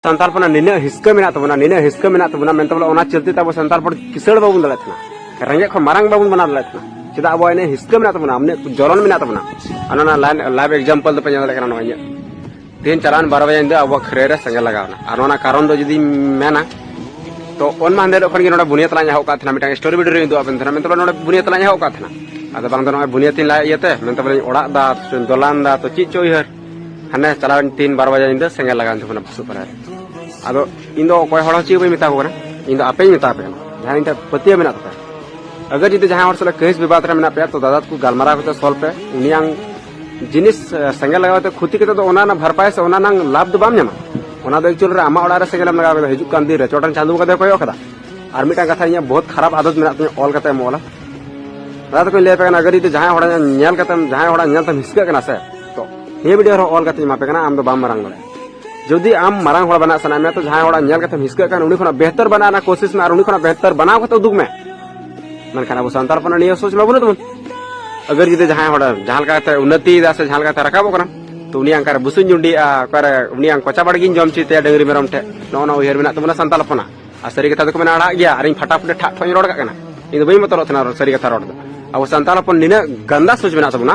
ᱥᱟᱱᱛᱟᱲ ᱯᱚᱱᱟ ᱱᱤᱱᱟᱹᱜ ᱦᱤᱥᱠᱟᱹ ᱢᱮᱱᱟᱜ ᱛᱟᱵᱚᱱᱟ ᱱᱤᱱᱟᱹᱜ ᱦᱤᱥᱠᱟᱹ ᱢᱮᱱᱟᱜ ᱛᱟᱵᱚᱱᱟ ᱢᱮᱱᱛᱮ ᱵᱚᱞᱮ ᱚᱱᱟ ᱪᱚᱞᱛᱮ ᱛᱟᱵᱚ ᱥᱟᱱᱛᱟᱲ ᱯᱚᱱ ᱠᱤᱥᱟᱹᱲ ᱵᱟᱵᱚᱱ ᱫᱟᱲᱮᱭᱟᱜ ᱠᱟᱱᱟ ᱨᱮᱸᱜᱮᱡ ᱠᱷᱚᱱ ᱢᱟᱨᱟᱝ ᱵᱟᱵᱚᱱ ᱵᱮᱱᱟᱣ ᱫᱟᱲᱮᱭᱟᱜ ᱠᱟᱱᱟ ᱪᱮᱫᱟᱜ ᱟᱵᱚᱣᱟᱜ ᱤᱱᱟᱹ ᱦᱤᱥᱠᱟᱹ ᱢᱮᱱᱟᱜ ᱛᱟᱵᱚᱱᱟ ᱤᱱᱟᱹᱜ ᱡᱚᱞᱚᱱ ᱢᱮᱱᱟᱜ ᱛᱟᱵᱚᱱᱟ ᱚᱱᱟ ᱚᱱᱟ ᱞᱟᱭᱤᱵ ᱮᱠᱡᱟᱢᱯᱚᱞ ᱫᱚᱯᱮ ᱧᱮᱞ ᱫᱟᱲᱮᱭᱟᱜ ᱠᱟᱱᱟ ᱱᱚᱜᱼᱚᱭ ᱤᱧᱟᱹᱜ ᱛᱮᱦᱮᱧ ᱪᱟᱞᱟᱣᱮᱱ ᱵᱟᱨᱚ ᱵᱟᱡᱮ ᱧᱤᱫᱟᱹ ᱟᱵᱚᱣᱟᱜ ᱠᱷᱟᱹᱨᱟᱹᱭ ᱨᱮ ᱥᱮᱸᱜᱮᱞ ᱞᱟᱜᱟᱣᱱᱟ ᱟᱨ ᱚᱱᱟ ᱠᱟᱨᱚᱱ ᱫᱚ ᱡᱩᱫᱤᱧ ᱢᱮᱱᱟ ᱛᱚ ᱚᱱ ᱢᱟ ᱦᱟᱸᱰᱮ ᱠᱷᱚᱱ ᱜᱮ ᱱᱚᱰᱮ ᱵᱩᱱᱤᱭᱟᱹ ᱛᱟᱞᱟᱧ ᱮᱦᱚᱵ ᱠᱟᱜ ᱛᱟᱦᱮᱱᱟ ᱢᱤᱫᱴᱟᱝ ᱥᱴᱳᱨᱤ ᱵᱷᱤᱰᱤᱭᱳ ᱨᱮᱧ ᱩᱫᱩᱜ ᱟᱵᱮᱱ ᱛᱟᱦᱮᱱᱟ ᱢᱮᱱᱛᱮ ᱱᱚᱰᱮ ᱵᱩᱱᱤᱭᱟᱹ ᱛᱟᱞᱟᱧ ᱮᱦᱚᱵ ᱠᱟᱜ ᱛᱟᱦᱮᱱᱟ ᱟᱫᱚ ᱵᱟᱝ ᱫᱚ ᱱᱚᱜᱼᱚᱭ ᱵᱩᱱᱤᱭᱟᱹ ᱛᱤᱧ ᱞᱟᱭ ᱤᱭᱟᱹᱛᱮ ᱢᱮᱱᱛᱮ ᱵᱚᱞᱮᱧ ᱚᱲᱟᱜ ᱫᱟ ᱫᱚᱞᱟᱱ ᱫᱟ ᱛᱚ ᱪᱮᱫ ᱪᱚ ᱩᱭᱦᱟᱹᱨ ᱦᱟᱱᱮ ᱪᱟᱞᱟᱣᱮᱱ ᱛᱤᱱ ᱵᱟᱨ ᱵᱟᱡᱮ ᱧᱤᱫᱟᱹ ᱥᱮᱸᱜᱮᱞ ᱞᱟᱜᱟᱣᱮᱱ ᱛᱟᱵᱚᱱᱟ ᱵᱷᱩᱥᱩᱵ ᱯᱟᱨᱟ ᱨᱮ ᱟᱫᱚ ᱤᱧ ᱫᱚ ᱚᱠᱚᱭ ᱦᱚᱲ ᱦᱚᱸ ᱪᱮᱫ ᱵᱟᱹᱧ ᱢᱮᱛᱟ ᱠᱚ ᱠᱟᱱᱟ ᱤᱧ ᱫᱚ ᱟᱯᱮᱧ ᱢᱮᱛᱟ ᱯᱮ ᱠᱟᱱᱟ ᱡᱟᱦᱟᱸ ᱤᱧ ᱴᱷᱮᱱ ᱯᱟᱹᱛᱭᱟᱹᱣ ᱢᱮᱱᱟᱜ ᱛᱟᱯᱮ ᱟᱜᱟᱨ ᱡᱩᱫᱤ ᱡᱟᱦᱟᱸᱭ ᱦᱚᱲ ᱥᱟᱞᱟᱜ ᱠᱟᱹᱦᱤᱥ ᱵᱤᱵᱟᱫ ᱨᱮ ᱢᱮᱱᱟᱜ ᱯᱮᱭᱟ ᱛᱚ ᱫᱟᱫᱟ ᱛᱟᱠᱚ ᱜᱟᱞᱢᱟᱨᱟᱣ ᱠᱟᱛᱮ ᱥᱚᱞ ᱯᱮ ᱩᱱᱤᱭᱟᱝ ᱡᱤᱱᱤᱥ ᱥᱮᱸᱜᱮᱞ ᱞᱟᱜᱟᱣ ᱠᱟᱛᱮ ᱠᱷᱚᱛᱤ ᱠᱟᱛᱮ ᱫᱚ ᱚᱱᱟ ᱨᱮᱱᱟᱜ ᱵᱷᱟᱨᱯᱟᱭ ᱥᱮ ᱚᱱᱟ ᱨᱮᱱᱟᱜ ᱞᱟᱵᱷ ᱫᱚ ᱵᱟᱢ ᱧᱟᱢᱟ ᱚᱱᱟ ᱫᱚ ᱮᱠᱪᱩᱭᱮᱞ ᱨᱮ ᱟᱢᱟᱜ ᱚᱲᱟᱜ ᱨᱮ ᱥᱮᱸᱜᱮᱞ ᱮᱢ ᱞᱟᱜᱟᱣ ᱠᱮᱫᱟ ᱦᱤᱡᱩᱜ ᱠᱟᱱ ᱫᱤᱱ ᱨᱮ ᱪᱚᱴᱟᱱ ᱪᱟᱸᱫᱳ ᱵᱚᱸᱜᱟ ᱫᱚᱭ ᱠᱚᱭᱚᱜ ᱠᱟᱫᱟ ᱟᱨ ᱢᱤᱫᱴᱟᱝ ᱠᱟᱛᱷᱟ ᱤᱧᱟᱹᱜ ᱵᱚᱦᱩᱛ ᱠᱷᱟᱨᱟᱯ ᱟᱫᱚᱛ ᱢᱮᱱᱟᱜ ᱛᱤᱧᱟᱹ ᱚᱞ ᱠᱟᱛᱮ ᱮᱢ ᱚᱞᱟ ᱫᱟᱫᱟ ᱛᱟᱠᱚᱧ ᱞᱟᱹᱭ ᱟᱯᱮ ᱠᱟᱱᱟ ᱟᱜᱟᱨ ᱡᱩᱫᱤ ᱡᱟᱦᱟᱸᱭ ᱦᱚᱲ ᱧᱮᱞ ᱠᱟᱛᱮᱢ ᱡᱟᱦᱟᱸᱭ ᱦᱚᱲ ᱧᱮᱞ ᱛᱮᱢ ᱦᱤᱥᱠᱟᱹᱜ ᱠᱟᱱᱟ ᱥᱮ ᱛᱚ ᱦᱮ ᱵᱷᱤᱰᱤᱭᱳ ᱨᱮᱦᱚᱸ ᱚᱞ ᱠᱟᱛᱮᱧ ᱮᱢᱟᱯᱮ ᱠᱟᱱᱟ ᱟᱢ ᱫᱚ ᱵᱟᱢ ᱢᱟᱨᱟᱝ ᱫᱟᱲᱮᱭᱟᱜᱼᱟ ᱡᱩᱫᱤ ᱟᱢ ᱢᱟᱨᱟᱝ ᱦᱚᱲ ᱵᱮᱱᱟᱜ ᱥᱟᱱᱟᱭᱮᱫ ᱢᱮᱭᱟ ᱛᱚ ᱡᱟᱦᱟᱸᱭ ᱦᱚᱲᱟᱜ ᱧᱮᱞ ᱠᱟᱛᱮᱢ ᱦᱤᱥᱠᱟᱹᱜ ᱠᱟᱱ ᱩᱱᱤ ᱠᱷᱚᱱᱟᱜ ᱵᱮᱦᱛᱚᱨ ᱵᱮᱱᱟᱜ ᱨᱮᱱᱟᱜ ᱠᱳᱥᱤᱥ ᱢᱮ ᱟᱨ ᱩᱱᱤ ᱠᱷᱚᱱᱟᱜ ᱵᱮᱦᱛᱚᱨ ᱵᱮᱱᱟᱣ ᱠᱟᱛᱮ ᱩᱫᱩᱜ ᱢᱮ ᱢᱮᱱᱠᱷᱟᱱ ᱟᱵᱚ ᱥᱟᱱᱛᱟᱲ ᱦᱚᱯᱚᱱᱟᱜ ᱱᱤᱭᱟᱹ ᱥᱳᱪ ᱢᱟ ᱵᱟᱹᱱᱩᱜ ᱛᱟᱵᱚᱱ ᱟᱜᱟᱨ ᱡᱩᱫᱤ ᱡᱟᱦᱟᱸᱭ ᱦᱚᱲ ᱡᱟᱦᱟᱸ ᱞᱮᱠᱟᱛᱮ ᱩᱱᱱᱚᱛᱤᱭᱮᱫᱟ ᱥᱮ ᱡᱟᱦᱟᱸ ᱞᱮᱠᱟᱛᱮ ᱨᱟᱠᱟᱵᱚᱜ ᱠᱟᱱᱟ ᱛᱚ ᱩᱱᱤᱭᱟᱜ ᱚᱠᱟᱨᱮ ᱵᱩᱥᱩᱧ ᱡᱩᱸᱰᱤᱭᱮᱜᱼᱟ ᱚᱠᱟᱨᱮ ᱩᱱᱤᱭᱟᱜ ᱠᱚᱪᱟ ᱵᱟᱲᱜᱤᱧ ᱡᱚᱢ ᱦᱚᱪᱚᱭ ᱛᱟᱭᱟ ᱰᱟᱹᱝᱨᱤ ᱢᱮᱨᱚᱢ ᱴᱷᱮᱡ ᱱᱚᱜᱼᱚ ᱱᱚᱣᱟ ᱩᱭᱦᱟᱹᱨ ᱢᱮᱱᱟᱜ ᱛᱟᱵᱚᱱᱟ ᱥᱟᱱᱛᱟᱲ ᱦᱚᱯᱚᱱᱟᱜ ᱟᱨ ᱥᱟᱹᱨᱤ ᱠᱟᱛᱷᱟ ᱫᱚᱠᱚ ᱢᱮᱱᱟ ᱟᱲᱟᱜ ᱜᱮᱭᱟ ᱟᱨᱤᱧ ᱯᱷᱟᱴᱟᱯᱷᱩᱴᱤ ᱴᱷᱟᱜ ᱴᱷᱚᱜ ᱤᱧ ᱨᱚᱲ ᱠᱟᱜ ᱠᱟᱱᱟ ᱤᱧ ᱫᱚ ᱵᱟᱹᱧ ᱵᱚᱛᱚᱨᱚᱜ ᱛᱟᱦᱮᱱᱟ ᱥᱟᱹᱨᱤ ᱠᱟᱛᱷᱟ ᱨᱚᱲ ᱫᱚ ᱟᱵᱚ ᱥᱟᱱᱛᱟᱲ ᱦᱚᱯᱚᱱ ᱱᱤᱱᱟᱹᱜ ᱜᱟᱱᱫᱟ ᱥᱳᱪ ᱢᱮᱱᱟᱜ ᱛᱟᱵᱚᱱᱟ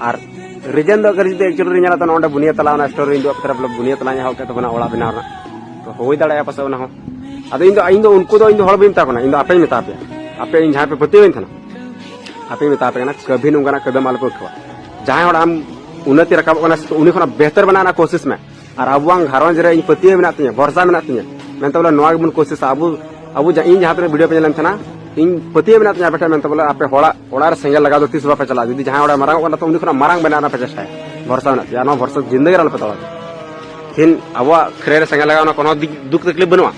ᱟᱨ ᱨᱤᱡᱮᱱ ᱫᱚ ᱟᱜᱟᱨ ᱡᱩᱫᱤ ᱮᱠᱪᱩᱭᱮᱞᱤ ᱨᱮ ᱧᱮᱞᱟ ᱛᱚ ᱱᱚᱰᱮ ᱵᱩᱱᱤᱭᱟᱹ ᱛᱟᱞᱟ ᱚᱱᱟ ᱥᱴᱳᱨ ᱨᱮᱧ ᱫᱩᱲᱩᱵ ᱠᱟᱛᱮ ᱵᱚᱞᱮ ᱵᱩᱱᱤᱭᱟᱹ ᱛᱟᱞᱟᱧ ᱮᱦᱚᱵ ᱠᱮᱫ ᱛᱟᱵᱚᱱᱟ ᱚᱲᱟᱜ ᱵᱮᱱᱟᱣ ᱨᱮᱱᱟᱜ ᱛᱚ ᱦᱩᱭ ᱫᱟᱲᱮᱭᱟᱜᱼᱟ ᱯᱟᱥᱮᱡ ᱚᱱᱟ ᱦᱚᱸ ᱟᱫᱚ ᱤᱧ ᱫᱚ ᱤᱧ ᱫᱚ ᱩᱱᱠᱩ ᱫᱚ ᱤᱧ ᱫᱚ ᱦᱚᱲ ᱵᱟᱹᱧ ᱢᱮᱛᱟ ᱠᱟᱱᱟ ᱤᱧ ᱫᱚ ᱟᱯᱮᱧ ᱢᱮᱛᱟ ᱯᱮᱭᱟ ᱟᱯᱮ ᱤᱧ ᱡᱟᱦᱟᱸ ᱯᱮ ᱯᱟᱹᱛᱭᱟᱹᱣᱟᱹᱧ ᱛᱟᱦᱮᱱᱟ ᱟᱯᱮᱧ ᱢᱮᱛᱟ ᱯᱮ ᱠᱟᱱᱟ ᱠᱟᱹᱵᱷᱤ ᱱᱚᱝᱠᱟᱱᱟᱜ ᱠᱟᱹᱫᱟᱹᱢ ᱟᱞᱚᱯᱮ ᱩᱴᱷᱟᱹᱣᱟ ᱡᱟᱦᱟᱸᱭ ᱦᱚᱲ ᱟᱢ ᱩᱱᱱᱚᱛᱤ ᱨᱟᱠᱟᱵᱚᱜ ᱠᱟᱱᱟ ᱩᱱᱤ ᱠᱷᱚᱱᱟᱜ ᱵᱮᱦᱛᱚᱨ ᱵᱮᱱᱟᱣ ᱨᱮᱱᱟᱜ ᱠᱳᱥᱤᱥ ᱢᱮ ᱟᱨ ᱟᱵᱚᱣᱟᱝ ᱜᱷᱟᱨᱚᱸᱡᱽ ᱨᱮ ᱤᱧ ᱯᱟᱹᱛᱭᱟᱹᱣ ᱢᱮᱱᱟᱜ ᱛᱤᱧᱟ ᱵᱷᱚᱨᱥᱟ ᱢᱮᱱᱟᱜ ᱛᱤᱧᱟ ᱢᱮᱱᱛᱮ ᱵᱚᱞᱮ ᱱᱚᱣᱟ ᱜᱮᱵᱚᱱ ᱠᱳᱥᱤᱥᱟ ᱟᱵᱚ ᱟᱵᱚ ᱤᱧ ᱡᱟᱦᱟᱸ ᱛᱤᱱᱟᱹᱜ ᱵᱷᱤᱰᱤᱭᱳ ᱯᱮ ᱧᱮᱞᱮᱱ ᱛᱟᱦᱮᱱᱟ ᱤᱧ ᱯᱟᱹᱛᱭᱟᱹᱣ ᱢᱮᱱᱟᱜ ᱛᱤᱧᱟ ᱟᱯᱮ ᱴᱷᱮᱱ ᱢᱮᱱᱛᱮ ᱵᱚᱞᱮ ᱟᱯᱮ ᱦᱚᱲᱟᱜ ᱚᱲᱟᱜ ᱨᱮ ᱥᱮᱸᱜᱮᱞ ᱞᱟᱜᱟᱣ ᱫᱚ ᱛᱤᱥ ᱵᱟᱯᱮ ᱪᱟᱞᱟᱜᱼᱟ ᱡᱩᱫᱤ ᱡᱟᱦᱟᱸᱭ ᱚᱲᱟᱜ ᱢᱟᱨᱟᱝᱚᱜ ᱠᱟᱱᱟ ᱛᱚ ᱩᱱᱤ ᱠᱷᱚᱱᱟᱜ ᱢᱟᱨᱟᱝ ᱵᱮᱱᱟᱣ ᱨᱮᱱᱟᱜ ᱯᱮ ᱪᱮᱥᱴᱟᱭᱟ ᱵᱷᱚᱨᱥᱟ ᱢᱮᱱᱟᱜ ᱛᱤᱧᱟ ᱱᱚᱣᱟ ᱵᱷᱚᱨᱥᱟ ᱡᱤᱱᱫᱮᱜᱤ ᱨᱮ ᱟᱞᱚᱯᱮ ᱛᱚᱲᱟ ᱛᱤᱦᱤᱧ ᱟᱵᱚᱣᱟᱜ ᱠᱷᱨᱮ ᱨᱮ ᱥᱮᱸᱜᱮᱞ ᱞᱟᱜᱟᱣ ᱚᱱᱟ ᱠᱳᱱᱳ ᱫᱩᱠ ᱛᱟᱠᱞᱤᱯ ᱵᱟᱹᱱᱩᱜᱼᱟ